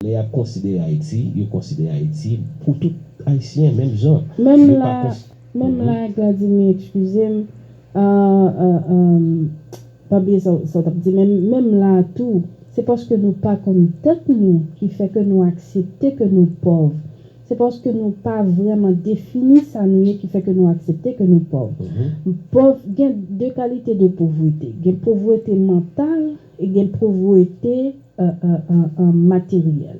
Lè yap konsidere Ayiti, yo konsidere Ayiti pou tout Ayisyen menm jan. Menm la, menm la Gladimir exkizem, pa bliye sa w tap di menm, menm la tou se paske nou pa konn tèt nou ki fè ke nou aksepte ke nou pòv. Se paske nou pa vrèman defini sa nou ye ki fè ke nou aksepte ke nou pòv. Pòv, gen 2 kalite de povrete, gen povrete mantal, Gen povrete materyèl.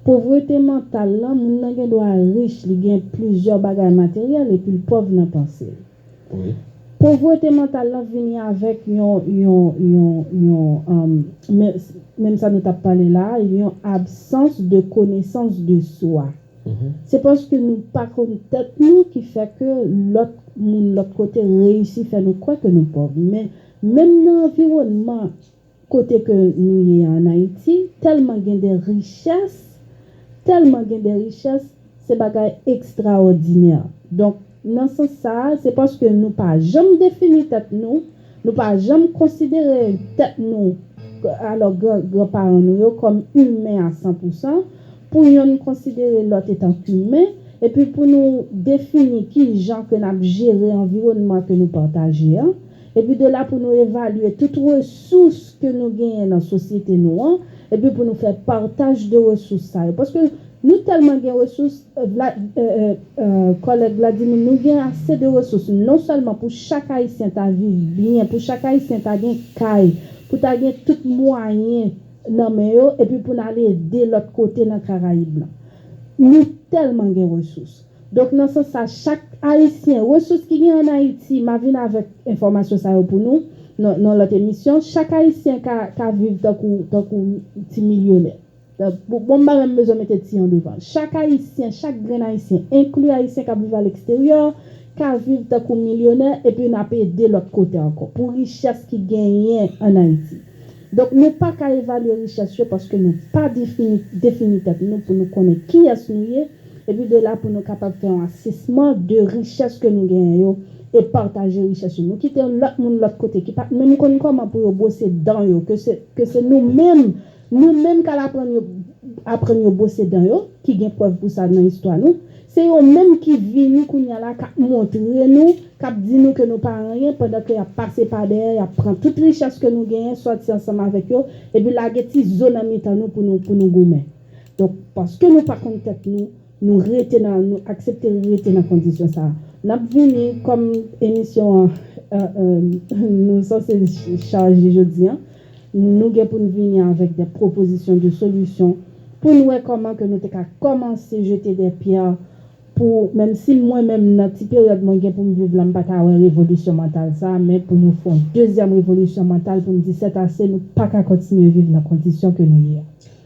Povrete mantal lan, moun nan gen dwa rich, li gen plizyè bagay materyèl epi l pòv nan panse l. Povrete mantal lan vini avèk yon, menm sa nou t ap pale la a, yon absans de konesans de swa. Se paske nou pa konn tèt nou ki fè ke lòt moun lòt kote reyisi fè nou kwè ke nou pòv. Menm nan anviwònman kote ke nou ye an Ayiti, tèlman gen de richès, tèlman gen de richès, se bagay ekstraòdinè. Donk, nan sans sa a, se paske nou pa janm defini tèt nou, nou pa janm konsidere tèt nou, alò gran gran paran nou yo, kòm imen a san pou san, pou yonn konsidere lòt etan kimen, epi pou nou defini kijan ke n ap jere anviwònman ke nou pataje an. Epi de la pou nou evalye tout resous ke nou genyen nan sosyete nou an, epi pou nou fè pataj de resous sa yo. Paske nou tèlman gen resous, Vla, kòlèg Vladimir, nou gen ase de resous non sèlman pou chak Ayisyen ta viv byen, pou chak Ayisyen ta gen kay, pou ta gen tout mwayen nan men yo, epi pou n al ede lòt kote nan Karayib lan. Nou tèlman gen resous. Donk nan sans sa chak ayisyen, resous ki gen an Ayiti, ma vin avèk enfòmasyon sa yo pou nou nan yon lòt emisyon, chak ayisyen ka ka viv tankou tankou ti milyonè. Bon m pa menm bezwen mete ti an devan. Chak ayisyen, chak grenn ayisyen, enkli ayisyen k ap viv aleksteryò, ka viv tankou milyonè epi n ap ede lòt kote ankò pou richès ki genyen an Ayiti. Donk nou pa ka evalye richès yo paske nou pa defini defini tèt nou pou nou konnen kiyès nou ye, Epi de la pou nou kapab fè yon asesman de richès ke nou genyen yo e pataje richès yo. Nou kite yon lòt moun lòt kote ki pat menm konn kòman pou yo bwose dan yo ke se ke se nou menm nou menm kal aprann yo aprann yo bwose dan yo ki gen prèv pou sa nan istwa nou. Se yo menm ki vini kounya la kap montre nou kap di nou ke nou pa anyen pandan ke yap pase pa dèyè yap pran tout richès ke nou genyen sòti ansanm avèk yo epi lage ti zo nan mitan nou pou nou pou nou goumen. Donk, paske nou pa konn tèt nou, nou rete nan, nou aksepte rete nan kondisyon sa a. N ap vini, kòm emisyon an nou sanse chaje jodi an, nou gen pou n vini avèk dè pwopozisyon de solisyon pou n wè kòman ke nou te ka kòmanse jete dè pyè pou, menm si mwen menm nan ti peryòd mwen gen pou m viv la m pa ta wè revolisyon mantal sa a, men pou nou fè yon dezyèm revolisyon mantal pou n di sètase, nou pa ka kontinye viv nan kondisyon ke nou ye a.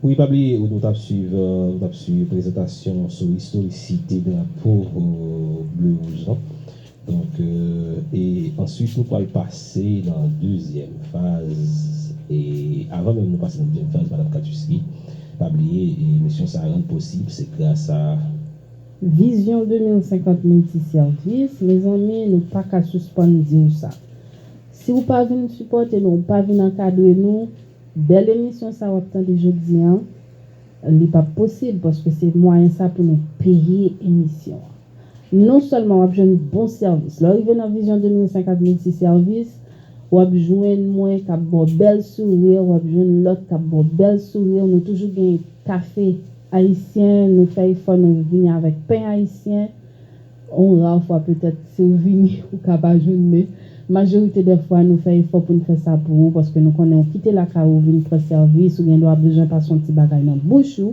Wi pa bliye ou tap swiv ou tap swiv prezantasyon sou istorisite drapo ble wouj lan donk e answit nou pwal pase nan dezyèm faz e avan menm nou pase nan dezyèm faz madam katuski pa bliye emisyon sa rann posib se gras a Vizyon 2050 Multi Service mezanmi nou paka sispann diw sa si ou pa vin sipòte nou ou pa vin ankadre nou Bèl emisyon sa wap tande jodi an li pap posib paske se mwayen sa pou nou peye emisyon an. Non sèlman wap jwenn bon sèvis lè w rive nan Vision 2050 Multi Service wap jwenn mwen kap ba w bèl souri wap jwenn lòt kap ba w bèl souri nou toujou gen kafe ayisyen nou fè efò nou vini avèk pen ayisyen On rar fwa petèt si ou vini ou ka pa jwenn men majorite dè fwa nou fè efò pou n fè sa pou ou paske nou konnen ou kite lakay ou vin pran sèvis ou gen dwa bezwen pase on ti bagay nan bouch ou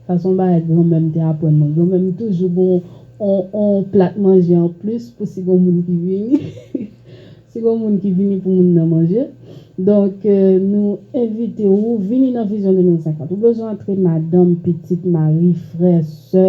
sa son bagay granmè m te aprann mwen granmè m toujou gen on on plat manje an plis pou si gon moun ki vini si gon moun ki vini pou moun nan manje donk nou envite ou vini nan vizyon 2050 ou bezwen antre madanm pitit mari frè sè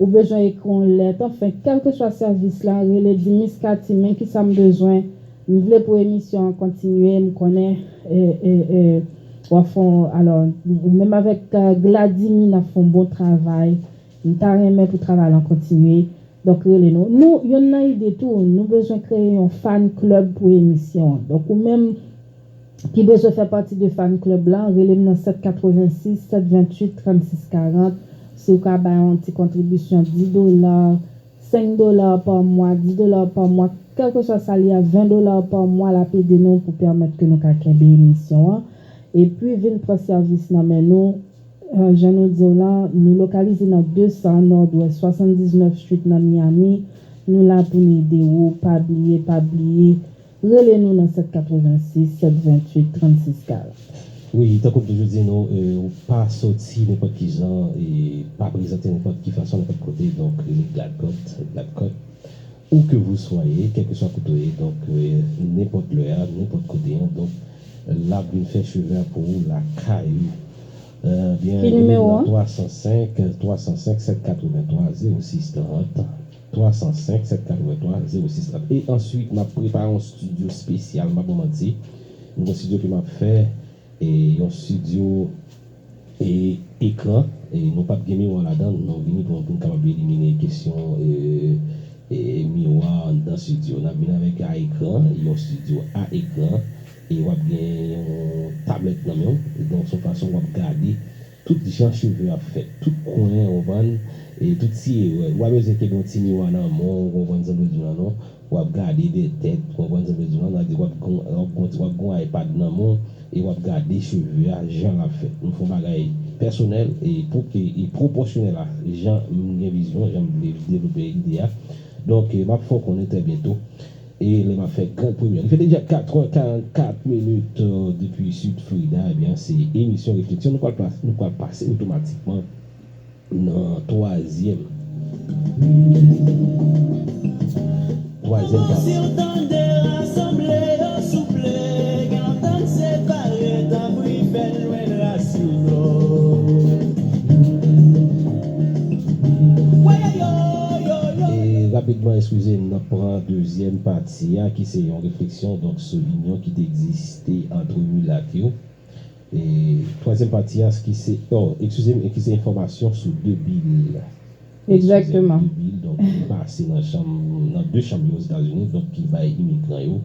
Ou bezwen ekri yon lèt anfen kèlkeswa sèvis la rele di Miss Katie men kisa m bezwen m vle pou emisyon an kontinye m konnen wap fon alò ou menm avèk Gladimy nap fon bon travay m ta renmen pou travay lan kontinye donk rele nou nou yonn nan ide tou nou bezwen kreye yon fan club pou emisyon an donk ou menm ki bezwen fè pati de fan club lan relem nan 786 728 36 40 siw ka bay yon ti kontribisyon 10 dola 5 dola pa mwa 10 dola pa mwa kèlkeswa sa li a 20 dola pa mwa lap ede nou pou pèmèt ke nou ka kenbe emisyon an epi vin pran sèvis nan men nou jan nou diw lan nou lokalize nan 200 nòdwès 79 street nan Miami nou la poun ede ou pa bliye pa bliye Rele nou nan 786 728 36 40. Wi, tankou m toujou di nou, ou pa soti nenpòt kijan e pa prezante nenpòt ki fason nenpòt kote, donk rele Gladcourt, Gladcott, ou ke vou swaye, kèlkeswa kote w ye, donk nenpòt lè a, nenpòt kote an, donk l ap vin fè cheve a pou ou lakay ou. Byen, rele m nan 305 305 783 06 30. 305 783 06 30 E answit map prepare yon studio spesyal m pa bon manti m gen studio ke map fè e yon studio e ekran e nou pap gen miwa ladan l nou vini pou nou kapab elimine kesyon e e miwa anndan studio nap vini avèk a ekran yon studio a ekran e wap gen yon tablèt nan menw donk son fason wap gade Tout jan cheve ap fèt, tout kwen, ou konprann, e tout ti erè. Ou pa bezwen ke gen yon ti miwa nan men w, ou konprann sa m vle di w la non. W ap gade dè tèt, ou konprann sa m vle di w la non. Sa vle di w ap gen yon, w ap gen yon iPad nan men w, e w ap gade cheve a jan l ap fèt. M fè yon bagay pèsonèl e pou ke, e pwopòsyonèl a jan m gen vizyon, jan m vle devlope ide a. Donk, m ap fè w konnen trè byento. E lè map fè grand premyè. Li fè deja 4 heures 44 minutes depi Sud Florida ebyen se emisyon refleksyon nou pral nou pral pase otomatikman nan twazyèm twazyèm pati. E rapidman eskize m nap pran. Dezyèm pati a ki se yon refleksyon donk sou inyon ki te egziste antre milat yo. E twazyèm pati a ki se, o, ekskize m, ki se enfòmasyon sou de bil. Ekskize m, de bil donk ki pase nan chanm, nan de chanm yo Ozetazini donk ki bay imigran yo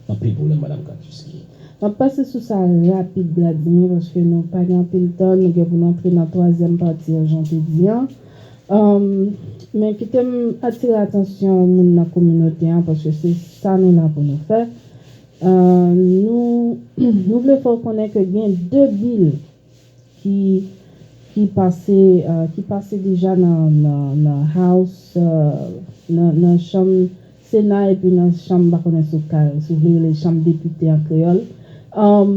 anpil pwoblèm Madam Katouski. M ap pase sou sa rapid Bladimir paske nou pa gen anpil tan, nou gen pou nou antre nan twazyèm pati an jan w te di an. Men kite m atire atansyon moun nan kominote an paske se sa nou la pou nou fè. Nou vle fè w konnen ke gen 2 bil ki pase deja nan House, nan chanm Sena epi nan chanm mpa konnen sou kal si w vle rele l chanm depite an kreyòl um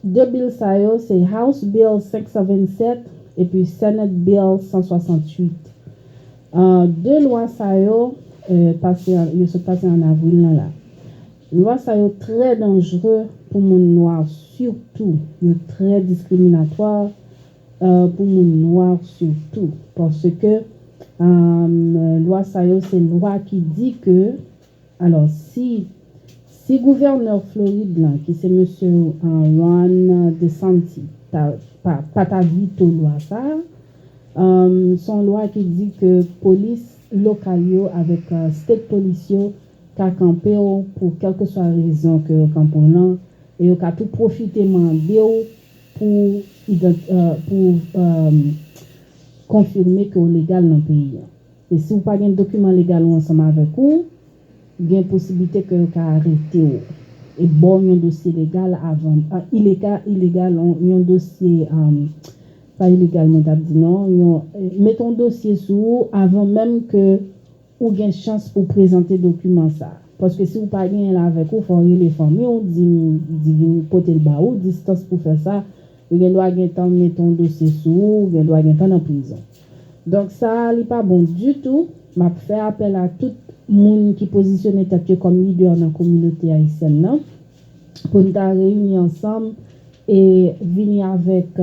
2 bill sa yo se House Bill 527 epi Senate Bill 168 um 2 lwa sa yo um pase an yo sot pase an avril nan la lwa sa yo trè danjre pou moun nwa sitou yo trè diskriminatwa pou moun nwa sitou paske lwa sa yo se lwa ki di ke alò si si gouvènè Florid lan ki se mesye Ron DeSantis ta pa ta vito lwa sa se yon lwa ki di ke polis lokal yo avèk state polis yo ka kanpe w pou kèlkeswa rezon ke yo kanpe w lan e yo ka tou pwofite mande w pou pou konfime ke w legal nan peyi an. E si w pa gen dokiman legal ou ansanm avèk ou, gen posiblite ke yo ka arete w e ba w yon dosye legal avan ileka ilegal yon dosye pa ilegal mwen t ap di non yon mete yon dosye sou ou avan menm ke Ou gen chans pou w prezante dokiman sa a. Paske si w pa genyen l avèk ou, fò w rele fanmi w, di m di vin pote l ba ou, distans pou fè sa, yo gen dwa gen tan mete yon dosye sou ou, ou gen dwa gen tan nan prizon. Donk sa a li pa bon ditou, m ap fè apèl a tout moun ki pozisyone tèt yo kòm lidè nan kominote ayisyèn nan pou n ta reyini ansanm e vini avèk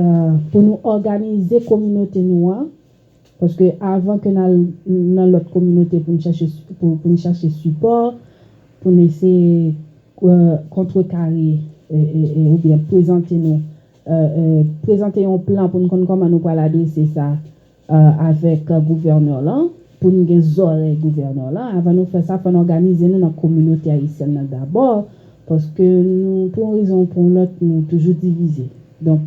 pou nou òganize kominote nou an, Paske avan ke n al nan lòt kominote pou n chache pou n chache sipò, pou n eseye kontrekare oubyen prezante nou prezante yon plan pou n konn kòman nou pral adrese sa avèk gouvènè lan, pou n gen zòrèy gouvènè lan. Avan nou fè sa, fò n òganize nou nan kominote ayisyèn nan dabò, paske nou pou yon rezon ou pou yon lòt nou toujou divize. Donk,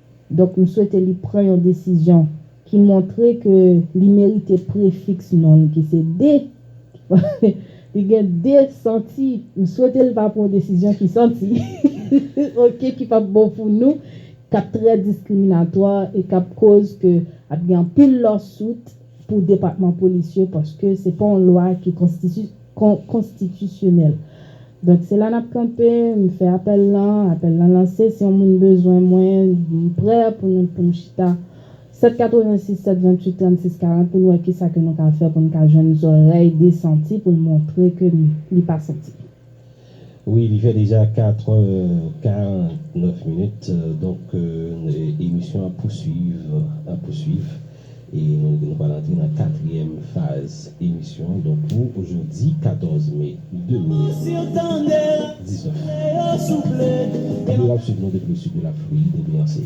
Donk m swete li pran yon desizyon ki montre ke li merite prefiks non l ki se de. Li gen de santi. M swete l pa pran yon desizyon ki santi, ok, ki p ap bon pou nou, k ap trè diskriminatwa e k ap koz ke ap gen anpil lawsuit pou depatman polis yo paske se pa yon lwa ki konstitisyon. Kon, konstitisyonèl. Donk, se la n ap kanpe, m fè apèl lan, apèl lan lanse, si yon moun bezwen mwen, m prè pou nou, pou n chita 7 86 728 36 40 pou n wè kisa ke nou ka fè pou n ka jwenn zòrèy de santi pou l montre ke li pa santi. Wi li fè deja 4 è 49 minit donk emisyon ap pouswiv ap pouswiv e nou nou pral antre nan katryèm faz emisyon an donk pou jodi 14 me 2019 Yo ap swiv nou depi le sid de la Florid e byen se.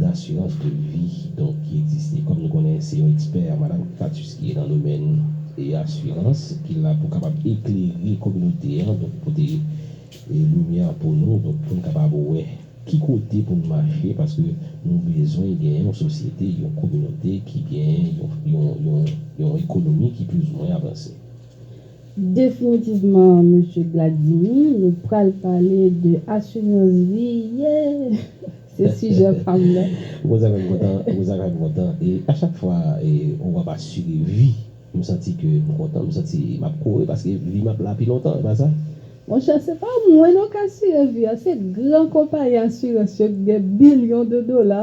dasirans de vi donk ki egziste kòm nou konnen se yon ekspè madam Catus ki nan domèn e asirans ki la pou kapab eklere kominote an donk pote e limyè pou nou donk pou n kapab wè ki kote pou n mache paske nou bezwen gen yon sosyete yon kominote ki gen yon yon yon ekonomi ki plis ou mwen avanse. Definitivman Mesye Gladimy, nou pral pale de assurance vie yeah! Se sijè pa m nan. Rosa fè m kontan, Rosa fè m kontan e a chak fwa on wap asire vi m santi ke m kontan, m santi m ap kore paske vi m ap la pi lontan e pa sa? Monchè se pa mwen non k asire vi a, se gran konpayi asirans yo ki gen bilyon de dola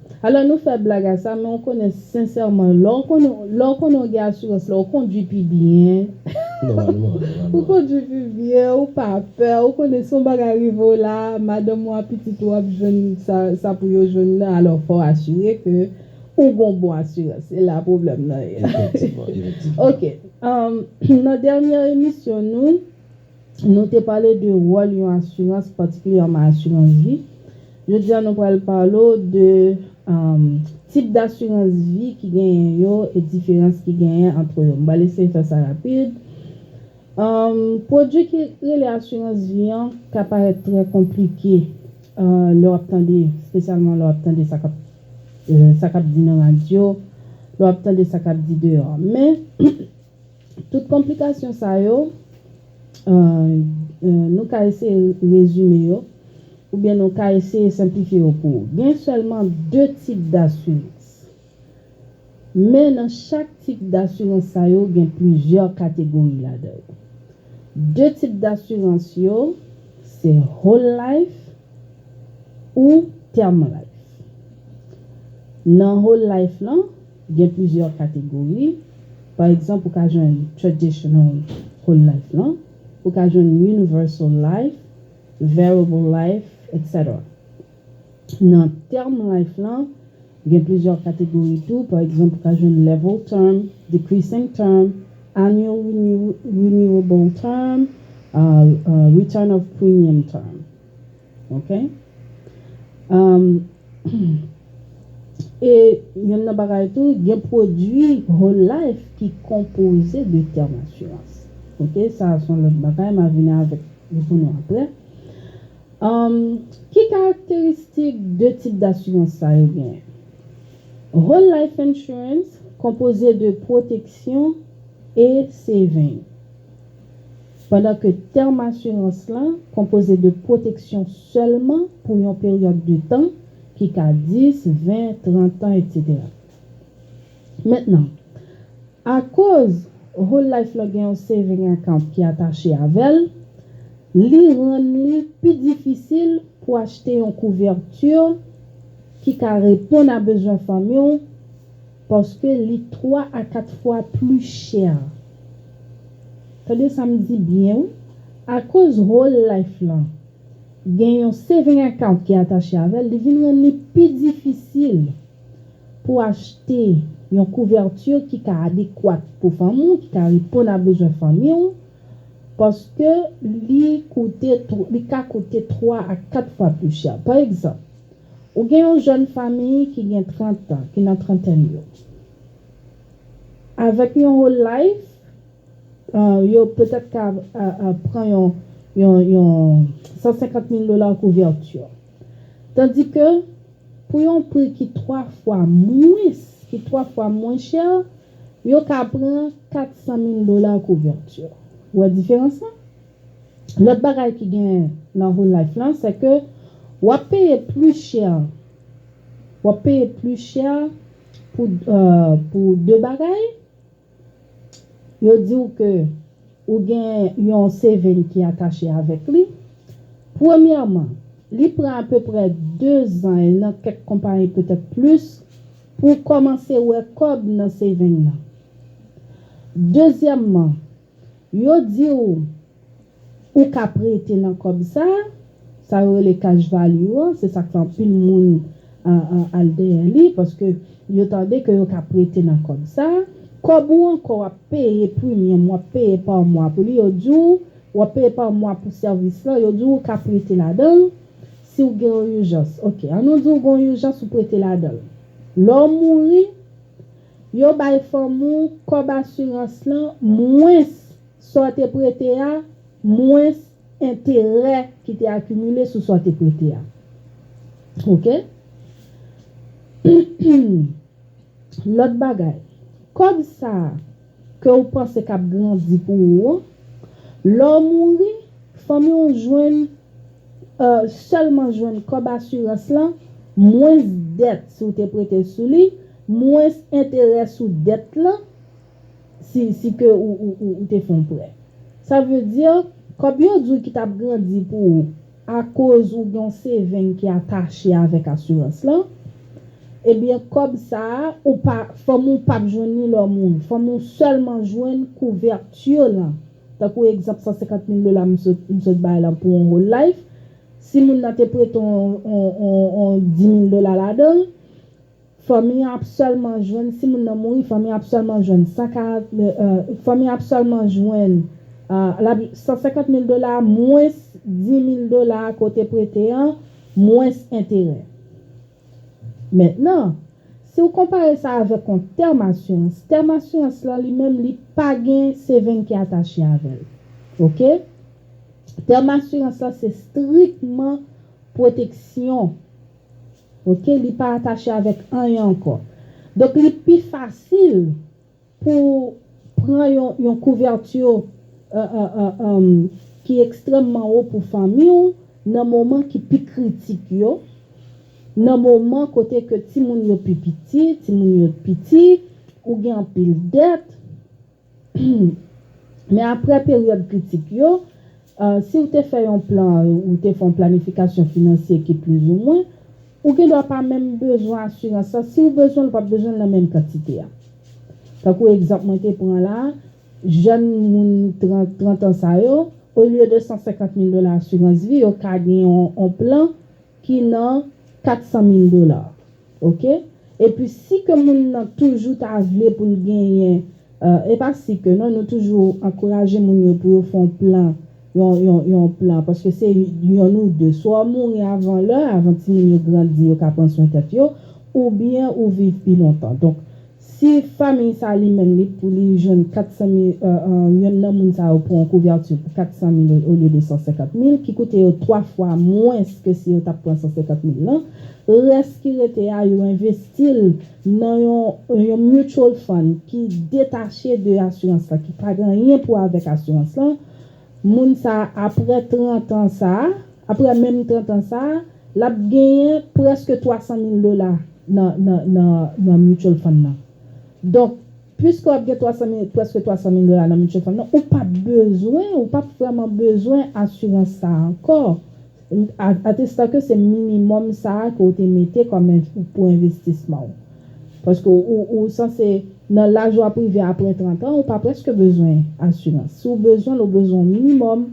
Alò nou fè blag a sa men ou konnen sensèman lè w konnen lè w konnen w gen asirans la ou kondwi pi byen Nòmalman, nòmalman. ou kondwi pi byen ou pa pè ou konnen si yon bagay rive w la madanm ou a pitit ou ap jwenn sa sa pou yo jwenn nan alò fò w asire ke ou gen yon bon asirans se la pwoblèm nan ye Efektivman, efektivman. Ok, nan dènyè emisyon nou. Nou te pale de wòl yon asirans patikilyèman asirans vi. Jodi a nou pral pale w de tip dasirans vi ki genyen yo e diferans ki genyen antre yo. M pral eseye fè sa rapid. Pwodui ki rele asirans vi an ka parèt trè konplike lè w ap tande, espesyalman lè w ap tande sa k ap di nan radyo, lè w ap tande sa k ap di deyò. Men, Tout konplikasyon sa yo, nou ka eseye rezime yo oubyen nou ka eseye senplifye yo pou ou. Gen sèlman 2 tip dasirans. Men nan chak tip dasirans sa yo gen plizyè kategori ladan yo. 2 tip dasirans yo se Whole Life ou Term Life. Nan Whole Life lan. Gen plizyè kategori. Pa egzanp ou ka jwenn Traditional Whole Life lan, ou ka jwenn Universal Life, Variable Life, etc. Nan Term Life lan, gen plizyè kategori tou, pa egzanp ou ka jwenn Level Term, Decreasing Term, Annual Renewable Term, Return of Premium Term. Ok Am Humm E yonn nan bagay tou gen pwodwi Whole Life ki konpoze de tèm asirans ok sa a son lòt bagay ma vini avèk li pou nou aprè Am Ki karakteristik de tip dasirans sa yo genyen Whole Life Insurance konpoze de pwoteksyon e saving Pandan ke tèm asirans la konpoze de pwoteksyon sèlman pou yon peryòd de tan ki ka 10, 20, 30 tan etc. Mentnan, akoz Whole Life lan gen yon saving account ki atache avè l, li rann li pi difisil pou achte yon couverture ki ka reponn a bezwen fanmi w, Paske li 3 a 4 fwa pli chè. Tande sa m di byen wi. Akoz whole life lan gen yon saving account ki atache avè l, li vin rann li pi difisil pou achte yon couverture ki ka adekwat pou fanmi w, ki ka reponn a bezwen fanmi w, paske li koute, li ka koute 3 a 4 fwa pli chè. Pa egzanp. Ou gen yon jèn fami ki gen 30 tan, ki nan trantèn yo, avèk yon whole life, yo petèt ka pran yon 150 mil dola couverture. Tandi ke pou yon pri ki 3 fwa mwens, ki 3 fwa mwen chè, yo ka pran 400 mil dola couverture. Ou wè diferans lan? Lòt bagay ki gen nan whole life lan se ke wap peye plus cher wap peye plus cher pou pou 2 bagay yo diw ke ou gen yon saving ki atache avèk li premyèman li pran apeprè 2 zan e nan kèk konpayi petèt plus pou w kòmanse wè kòb nan saving lan dezyèmman Yo di w ou ka prete nan kòb sa, sa yo rele cash value an, se sa k fè anpil moun al dèyè li paske yo tande ke yo ka prete nan kòb sa. Kòb ou an kò w ap peye primyòm, w ap peye pa mwa pou li, yo di w w ap peye pa mwa pou sèvis lan, yo di w ou ka prete ladan l si w gen yon ijans. Ok, an nou di w gen yon ijans ou prete ladan l. Lè w mouri. Yo bay fanm ou kòb asirans lan mwens sa w te prete a mwens enterè ki te akimile sou sa w te prete a. Ok. Lòt bagay, kòb sa a ke ou panse k ap grandi pou ou an, lè w mouri, fanmi w jwenn, sèlman jwenn kòb asirans lan mwens dèt si w te prete sou li, Mwens enterè sou dèt lan si si ke ou ou te fè yon prè. Sa vle di, kòb yo di w ki t ap grandi pou ou akoz ou gen yon saving ki atache avèk asirans lan, ebyen kòb sa a ou pa fanmi w pap jwenn li lè w mouri. Fanmi w sèlman jwenn couverture lan. Tankou egzanp 150 mil dola m sot m sot bay lan pou yon whole life, si moun nan te prete w yon yon yon 10 mil dola ladan l, Fanmi an ap sèlman jwenn, si moun nan mouri, fanmi an ap sèlman jwenn 140, fanmi an ap sèlman jwenn, l ap, 150 mil dola mwens 10 mil dola ke w te prete an, mwens enterè. Mentnan, si w konpare sa avèk yon tèm asirans, tèm asirans lan li menm li pa gen seveng ki atache avè l. Ok? Tèm asirans lan se strikman pwoteksyon. Ok li pa atache avèk anyen ankò. Donk li pi fasil pou ou pran yon yon kouvèti ki ekstrèmman wo pou fanmi ou nan moman ki pi kritik yo, nan moman kote ke timoun yo pi piti, timoun yo piti, ou gen anpil dèt. Men aprè peryòd kritik yo, si ou te fè yon plan ou te fè yon planifikasyon finansye ki plizoumwen, ou gendwa pa menm bezwen asirans la. Si ou bezwen l, ou pap bezwen l nan menm kantite a. Tankou egzanp mwen te pran la, jèn moun trantan sa yo, olye de 150 mil dola asirans vi, yo ka gen yon plan ki nan 400 mil dola. Ok epi si ke moun nan toujou ta vle pou l genyen e pa si ke non nou toujou ankouraje moun yo pou yo fè yon plan yon yon yon plan paske se yonn ou de swa w mouri avan lè avan timoun yo grandi yo ka pran swen tèt yo oubyen ou viv pi lontan donk Si famiy sa li menm li pou li jwenn 400 mil yonn nan moun sa yo pran yon kouvèti pou 400 mil olye de 150 mil ki koute yo 3 fwa mwens ke si yo tap pran 150 mil lan, rès ki rete a yo envesti l nan yon mutual fund ki detache de asirans lan ki pa gen anyen pou wè avèk asirans lan, Moun sa a apre 30 an sa a, apre menm 30 an sa a, l ap genyen prèske 300 mil dola nan nan nan nan mutual fund nan. Donk, puiske w ap gen 300 mil prèske 300 mil dola nan mutual fund nan, ou p ap bezwen, ou p ap vrèman bezwen asirans sa a ankò. Atesta ke se minimòm sa a ke w te mete kòm pou envestisman w. Paske ou sanse nan laj w ap rive apre 30 an, ou pa prèske bezwen asirans. Si w bezwen l, ou bezwen yon minimòm,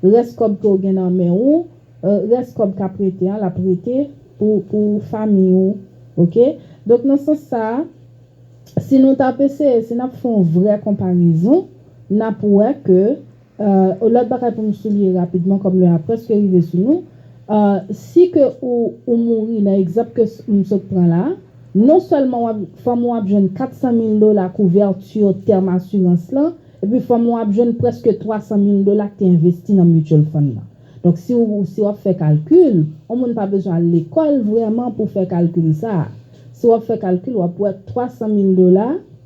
rès kòb ke w gen nan men ou, rès kòb k ap rete an, l ap rete pou famiy ou. Ok? Donk nan sans sa a, si nou t ap eseye, si n ap fè yon vrè konparezon, n ap wè ke. Ahh lòt bagay pou m souliye rapidman kòm lè a prèske rive sou nou, ahh si ke ou ou mouri nan egzanp ke m sot pran la, non sèlman wap fanmi w ap jwenn 400 mil dola kouvèti tèm asirans lan, epi fanmi w ap jwenn prèske 300 mil dola ki te envesti nan mutual fund lan. Donk si w si wap fè kalkil, on moun pa bezwen al lekòl vrèman pou fè kalkil sa a. Si wap fè kalkil wap wè 300 mil dola.